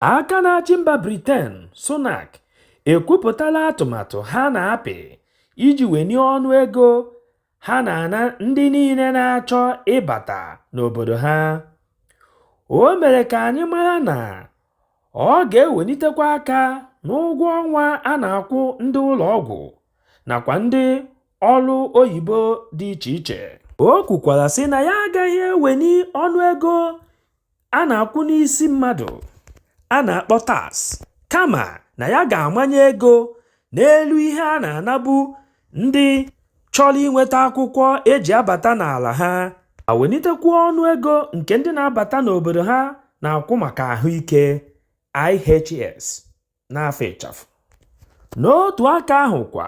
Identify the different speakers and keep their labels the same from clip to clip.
Speaker 1: Aka na-achị mba Briten, Sunak, ekwupụtala atụmatụ ha na-apị iji wenie ọnụ ego ha na-ana ndị niile na-achọ ịbata n'obodo ha. O mere ka anyị mara na ọ ga-ewenitekwa aka n'ụgwọ ọnwa a na-akwụ ndị ụlọ ọgwụ nakwa ndị ọrụ oyibo dị iche iche. O kwukwara sị na ya agaghị eweni ọnụego a na-akwụ n'isi mmadụ a na-akpọ tax kama na ya ga-amanye ego n'elu ihe a na-anabu ndị chọrọ inweta akwụkwọ e ji abata n'ala ha ma wenitekwuo ọnụ ego nke ndị na-abata n'obodo ha na-akwụ maka ahụike IHS n'afa ịchafụ. N'otu aka ahụ kwa,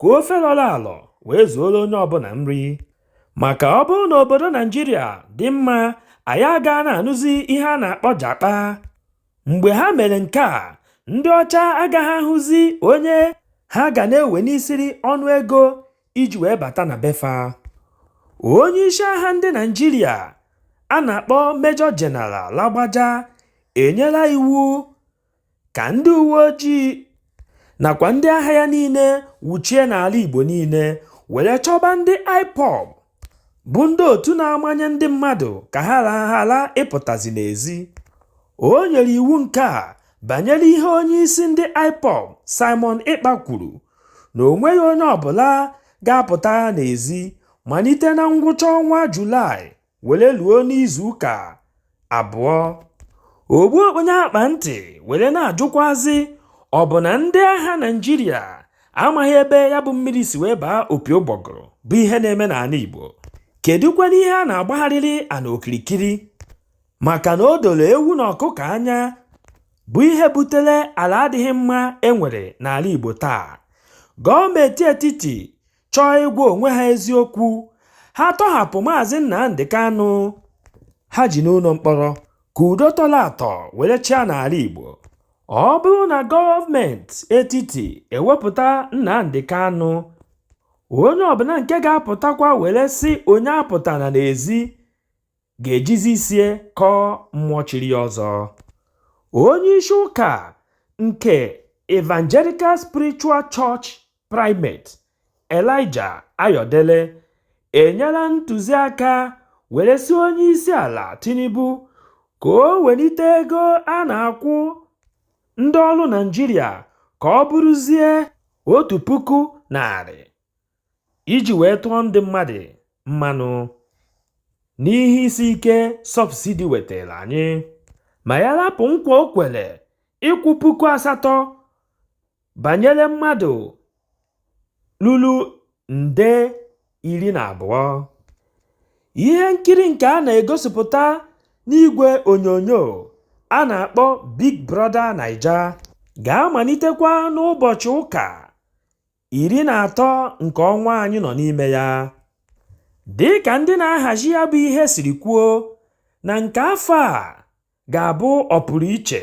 Speaker 1: ka ofe lọrọ alọ wee zuoro onye ọbụla nri maka ọ bụrụ na obodo naijiria dị mma anyị aga na-anụzi ihe a na-akpọ jakpa mgbe ha mere nke a ndị ọcha agaghị ahụzi onye ha ga na-ewenisiri ọnụ ego iji wee bata na be fa onye isi agha ndị naijiria a na-akpọ Major General Lagbaja enyela iwu ka ndị uwe ojii nakwa ndị agha ya niile wuchie n'ala Igbo niile were chọba ndị IPOB bụ ndị otu na-amanye ndị mmadụ ka ha ghara ịpụtazi n'ezi. O nyere iwu nke a banyere ihe onye isi ndị IPOB Simon Ekpa kwuru na o nweghị onye ọbụla ga-apụta n'ezi malite na ngwụcha ọnwa Julaị were luo n'izu ụka abụọ ogbu okponye akpa ntị were na-ajụkwazi ọ bụ na ndị agha naijiria amaghị ebe ya bụ mmiri si wee baa opi ụgbọgụrụ bụ ihe na-eme n'ala igbo kedụkwana ihe a na-agbagharịrị ana okirikiri maka na o doro ewu na ọkụkọ anya bụ ihe butere ala adịghị mma e nwere n'ala igbo taa gọọmenti etiti chọọ ịgwa onwe ha eziokwu ha tọhapụ maazị Nnamdi Kanu ha ji n'ụlọ mkpọrọ ka udo tọrọ atọ were chịa n'ala Igbo ọ bụrụ na gọọmenti etiti ewepụta Nnamdi Kanu onye ọbụla nke ga-apụtakwa were sị onye apụtana n'ezi ga-ejizi isie kọọ mmụọ chiri ya ọzọ onye isi ụka nke Evangelical Spiritual Church Primate Elijah Ayodele enyela ntụziaka were sị Onyeisiala Tinubu ka o welite ego a na-akwụ ndị ọrụ Naịjirịa ka ọ bụrụzie otu puku narị iji wee tụọ ndị mmadụ mmanụ n'ihe isi ike sọbsidi wetara anyị. Ma ya rapụ nkwa o kwere ịkwụ puku asatọ banyere mmadụ lulu nde iri na abụọ ihe nkiri nke a na-egosipụta n'igwe onyonyo a na-akpọ Big Brother Naija ga-amalitekwa n'ụbọchị ụka iri na atọ nke ọnwa anyị nọ n'ime ya dị ka ndị na-ahazi ya bụ ihe siri kwuo na nke afọ a ga-abụ ọpụrụ iche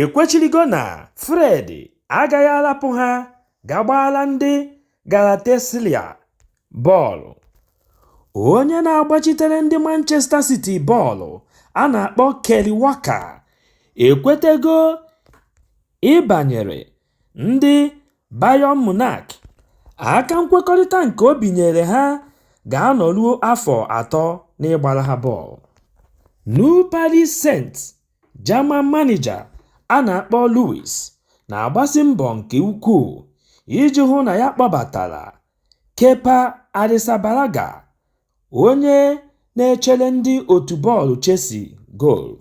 Speaker 1: ekwechirigo na Fred agaghị arapụ ha ga gbaara ndị Galatasaray bọọlụ. Onye na-agbachitere ndị Manchester City bọọlụ a na-akpọ Kyle Walker ekwetego ịbanyere ndị Bayern Munich aka nkwekọrịta nke o binyere ha ga-anọruo afọ atọ n'ịgbara ha bọọlụ. New Paris Saint Germain manịja a na-akpọ Luis na-agbasi mbọ nke ukwuu iji hụ na ya kpọbatara Kepa Arrizabalaga, onye na-echere ndị otu bọọlụ Chelsea goolu,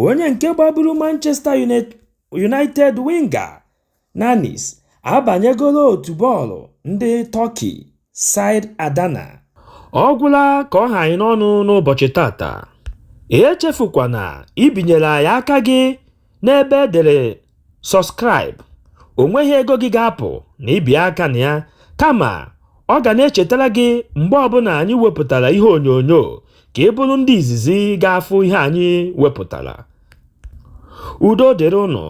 Speaker 1: onye nke gbaburu Manchester United winger Nanis abanyegoro otu bọọlụ ndị Tọki side Adana. Ọ gwụla ka ọ ha anyị n'ọnụ n'ụbọchị tata. Echefukwana ibinyere anyị aka gị n'ebe e dere Subscribe. O nweghị ego gị ga-apụ na ibinye aka na ya, kama ọ ga na-echetara gị mgbe ọbụla anyị wepụtara ihe onyonyo ka ị bụrụ ndị izizi ga-afụ ihe anyị wepụtara. Udo dịrị ụnụ.